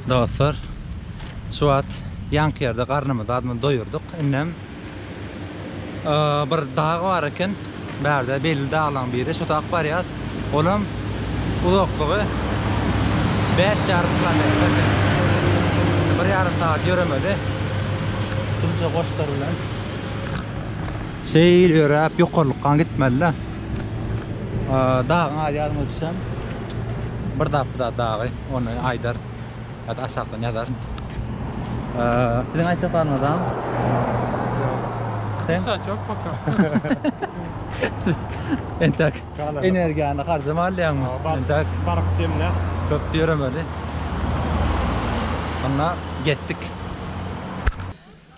Dostlar, şu wagt ýanky ýerde garnymyzy azmaz doýurdyk. Indem bir dag bar eken, bärde belli daglaryň biri. Şo tak barýas. Olam uzaklygy bäş ýarym kilometr eken. Bir ýarym sagat ýöremede şunça goçlar bilen şeýle ýöräp ýokarlykka gitmeli-de. Dagyň az ýadymda düşýän bir zat bu zat dagy. Ony aýdar ýa-da aşakdan ýazar. Siziň aýtjak zaryňyz bar? Sen? Sen çok paka. Entek energiýany harjama alýaňmy? Entek baryp demle. Köp ýöremeli. Onda getdik.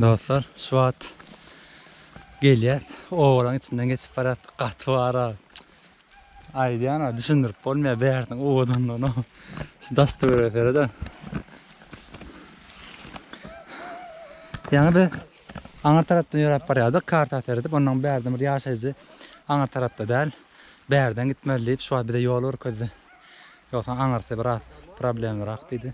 Dostlar, şu wagt gelýär. Obalaryň içinden geçip barýar. Gaty bara. Aýdýan-a, düşündirip bolmaýar bäriniň owadanlygyny. Şu daş-töwerege seret-ä. Ýaňy biz aňyr tarapdan ýöräp barýardyk, karta seredip, onnoň bärden bir ýaşaýjy aňyr tarapda däl, bärden gitmeli diýip, şu wagt bize ýol görkezdi. Ýogsa aňyrsy biraz problemlirak diýdi.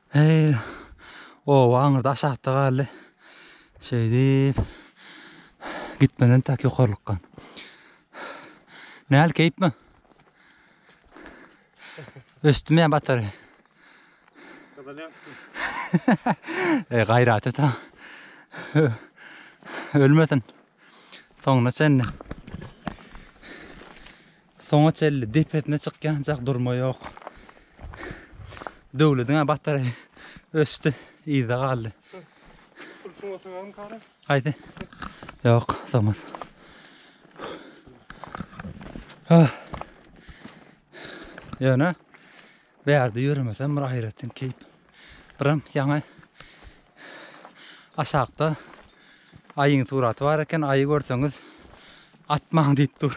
Heý, oba aňyrda aşakda galdy. Şeýdip, gitmeli entäk ýokarlykka. Näl, keýpmi? Ösdüm ýa batar. Eý, gaýrat et, ha. Ölmesin. Soňuna çenli. Soňa çenli depesine çykýançak durma ýok. Döwlediň-ä batary öçdi, yzda galdy. Şul çuňa sögärin kara. Haýsy? Ýok, sogmaz. Ýöne Bärde ýöremesem bir aýratyn keýp. Birem ýaňy aşakda aýyň suraty bar eken. Aýy görseňiz atmaň diýip dur.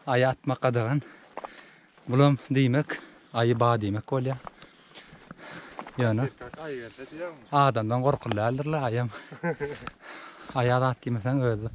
Aýy atmak gadagan. Bulam diýmek aýy ba diýmek bolýar. Ýöne adamdan gorkuly däldirler aýam. Aýa zat diýmeseň özi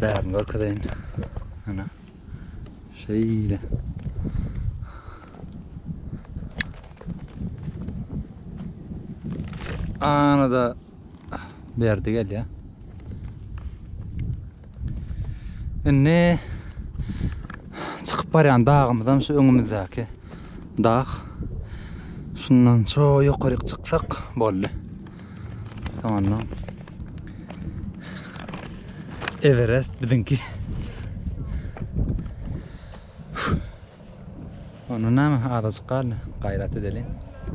Bärini görkezeýin. Ana. Şeýle. Ana da berdi gel ya. Indi çykyp barýan dagymyzam şu öňümizdäki dag. Şundan şu ýokaryk çyksak boldy. Soňandan Everest bizimki. Onu näme azajyk galdy. Gaýrat edeli.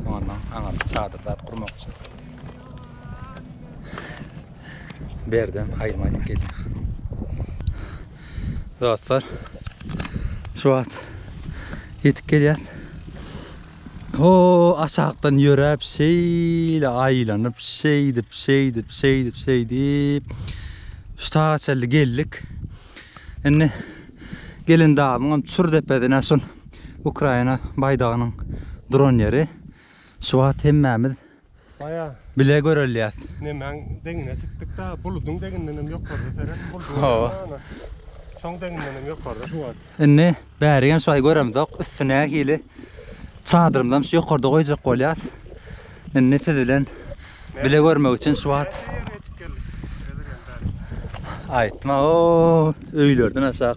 Ondan aňa bir çadyr zat gurmakçy. Berden aýma edip gelýär. Dostlar, şu wagt ýetip gelýär. O aşakdan ýöräp şeýle aýlanyp şeýdip şeýdip şeýdip şeýdip şu taga çenli geldik. Indi gelen dagyňam çür depesine şol Ukraina baýdagynyň duran ýeri. Şu wagt hemmämiz Baýa bile görelýär. Nemäň deňine çykdykda, buludyň deňinden hem ýokarda seret, buludyň deňinde. Şoň deňinden hem ýokarda şu wagt. Indi bäri hem şaý göremzok, üstü nähili. Çadyrymyzam şu ýokarda goýjak bolýar. Indi siz bilen bile görmek üçin şu wagt Aýtma, o öýlerden aşak.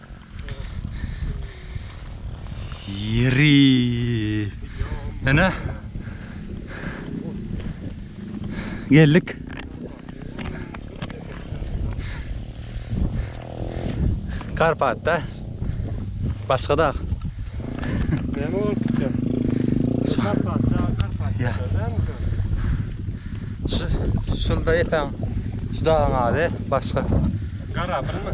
Ýeri. Ene. Geldik. Karpatda. Başga da. Näme bolup gitýär? Karpat, Karpat. Ýa. Şu şunda ýeten şu dagyň ady başga. Garabylmy?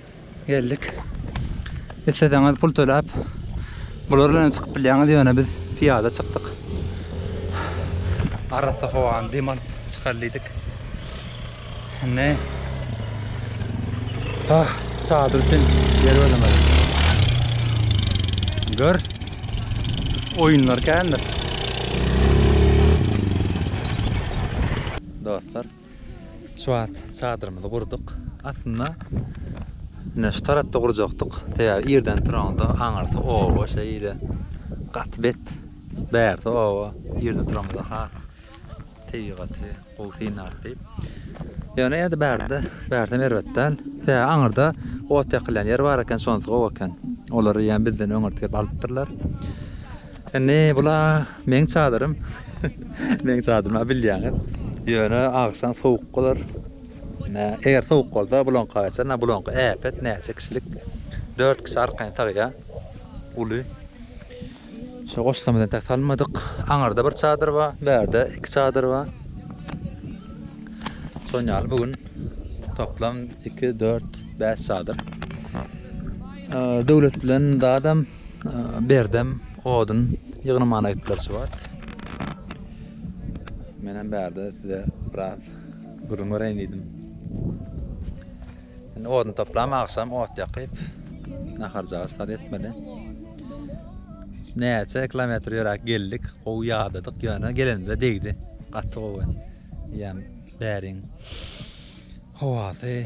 Geldik. Isleseňiz pul töläp bular bilen çykyp bilýäňiz, ýöne biz piýada çykdyk. Arassa howany dem alyp çykar diýdik. Indi Ah, çadyr üçin ýer gözlemeli. Gör. Oýunlar kändir. Dostlar, Şu wagt çadyrymyzy gurduk. Aslynda ine şu tarapda gurjakdyk. Sebäbi irden turanda aňyrsy oba şeýle gaty bet. Bärsi oba. Irde turamyza has tebigaty gowy synlarys diýip. Ýöne ýa-da bärde, bärsem erbet däl. Sebäbi aňyrda ot ýakylýan ýer bar eken, şonysy gowy eken. Olary ýa bizden öňürti gelip alypdyrlar. Indi bula meň çadyrym. meň çadyrym bilýäňiz. Ýöne agşam sowuk bolar. Nä, eger sowuk bolsa bulonka geçer. Nä bulonka äpet näçe kişilik? 4 kişi arkaýyn sagýa. Uly. Şu goşlamyzdan tek salmadyk. Aňarda bir çadyr bar, bärde iki çadyr bar. Şoň ýaly bu gün toplam 2 4 5 çadyr. Döwlet bilen dadam Berdem odun ýygnamana gitdiler şu wagt. Menem bärde size biraz gürrüň bereýin diýdim. Indi odun toplam agşam ot ýakyp naharjyga sar etmeli. Näçe kilometr ýöräp geldik, gowy ýadadyk ýöne gelenimizde degdi. Gaty gowy. Ýa bäriň howasy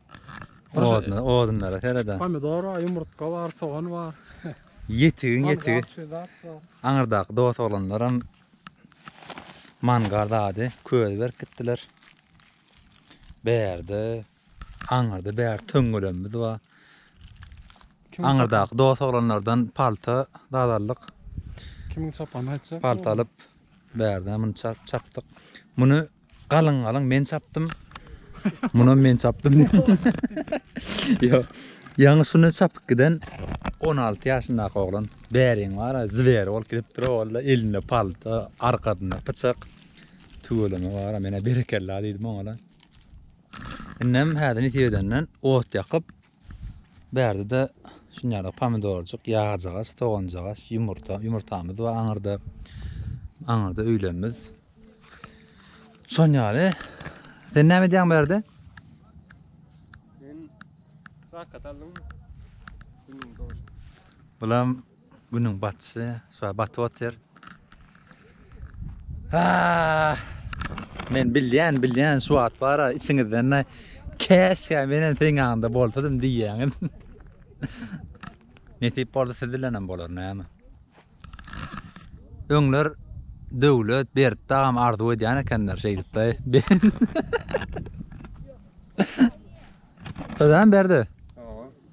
Oduna, odunlara sereda. Pomidor bar, ýumurtga bar, sogan bar. Ýetigiň ýetigi. Aňyrdaky dost oglanlar hem mangal dady, köz berip gitdiler. Bärde, aňyrda bär töňňelemimiz bar. Aňyrdaky dost oglanlardan palta dazallyk. Kimiň çapany aýtjak? Palta alyp, bärde muny çapdyk. Muny Galyň galyň men çapdym. Munam men çapdym. Ýa ýaňy şuny çapyp giden 16 ýaşyndaky oglan bäriň bar, zwer bolup gidipdir ogla, elinde palta, arkasynda pyçak. Tüweleme bar, menä berekella diýdim oňa. Indem häzir nitip edenden ot ýakyp, Bärde-de şunýaly pomidorjyk, ýagjagaç, soganjagaç, ýumurta, ýumurtamyz bar aňyrda. Aňyrda öýlerimiz. Şonýaly. Sen näme edýäň bärde? Men sakat aldym. Bulam Günüň batyşy şuway batyp otyr. Men bilýän, bilýän şu wagt bara içiňizden-de käşgä men hem seň ýanyňda bolsadym diýýäňiz. Nesip bolsa siz bilen hem bolar näme. Öňler Döwlet Berdi dagam arzuw edýän ekenler şeýdip de. Salam Berdi.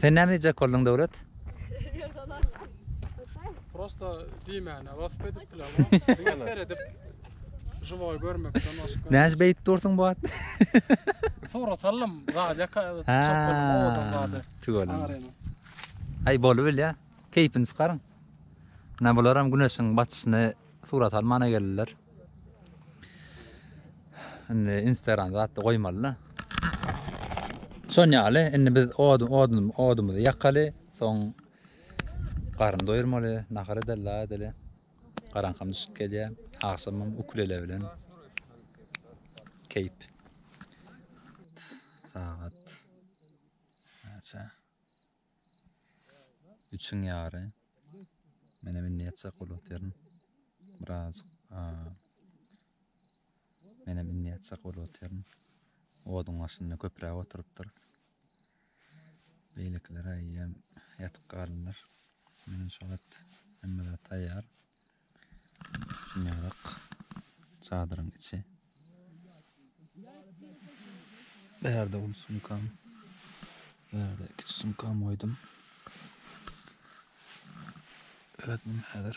Sen näme diýjek bolduň Döwlet? Prosta diýmäne wasp edip bilemok. Diňe seredip Живой görmekden başga. Näç beýdip dursuň bu wagt? Surat alym, zada çykyp bolmok owadan zada. Tüweleme. Aý bolup bilýä. Keýpini çykaryň. Ine bularam güneşiň batyşyny surat almana geldiler. Indi Instagram zatda goýmalyna. Şon ýaly indi biz odun odun odumyzy ýakaly, soň garyn doýurmaly, nahar edeli, la edeli. Garaňkam düşüp gelýär. Agşamam ukulele bilen keýp. Sagat näçe? Üçiň ýary. Mene men näçe çak bolup otyryn. Biraz. Mene men näçe çak bolup otyryn. Oduň başynda köpräk oturypdyr. Beýlekiler aýýam ýatyp galdylar. Men şu wagt hemme zat taýýar. Ýarak çadyryň içi. Bärde uly sumkam. Bärde kiçi sumkam goýdum. Özüm häzir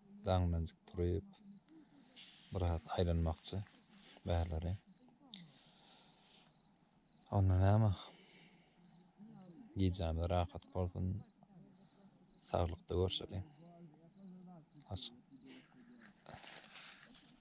daňdanjyk turup, biraz aýlanmakçy bärleri. Onda näme? Gijämiz rahat bolsun. Saglykda görşeliň. Aç.